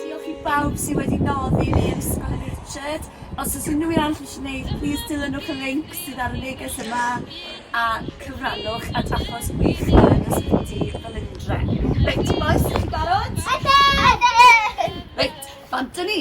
Diolch i bawb sydd wedi noddi fi yn Ysgol y Richard. Os oes unrhyw un arall eisiau gwneud, plis dilynwch y linc sydd ar y neges yma a cyfrannwch at achos gwych yn Ysbyty Felindre. Reit bois, dych chi'n barod? Ydyn! Reit, bant â ni!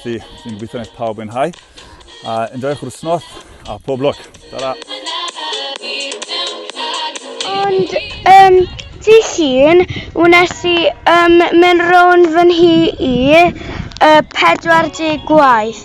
Felly, dwi'n gobeithio wneud pawb yn hau. A enjoy'ch wrthnos a pob lwc. Tara! Ond, um, ti hun, wnes i um, mynd rown fy nhi i uh, 40 gwaith.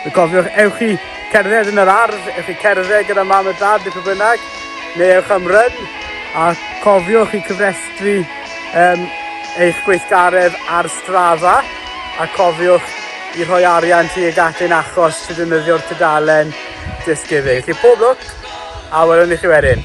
Y cofiwch, ewch chi cerdded yn yr ardd, ewch chi cerdded gyda mam a dad neu pwy bynnag, neu ewch am ryn, a cofiwch chi cyfrestru um, eich gweithgaredd ar Strava, a cofiwch i rhoi arian ti ag ati'n achos sydd yn yddio'r tudalen Just Giving. Felly pob lwc, a welwn i chi wedyn.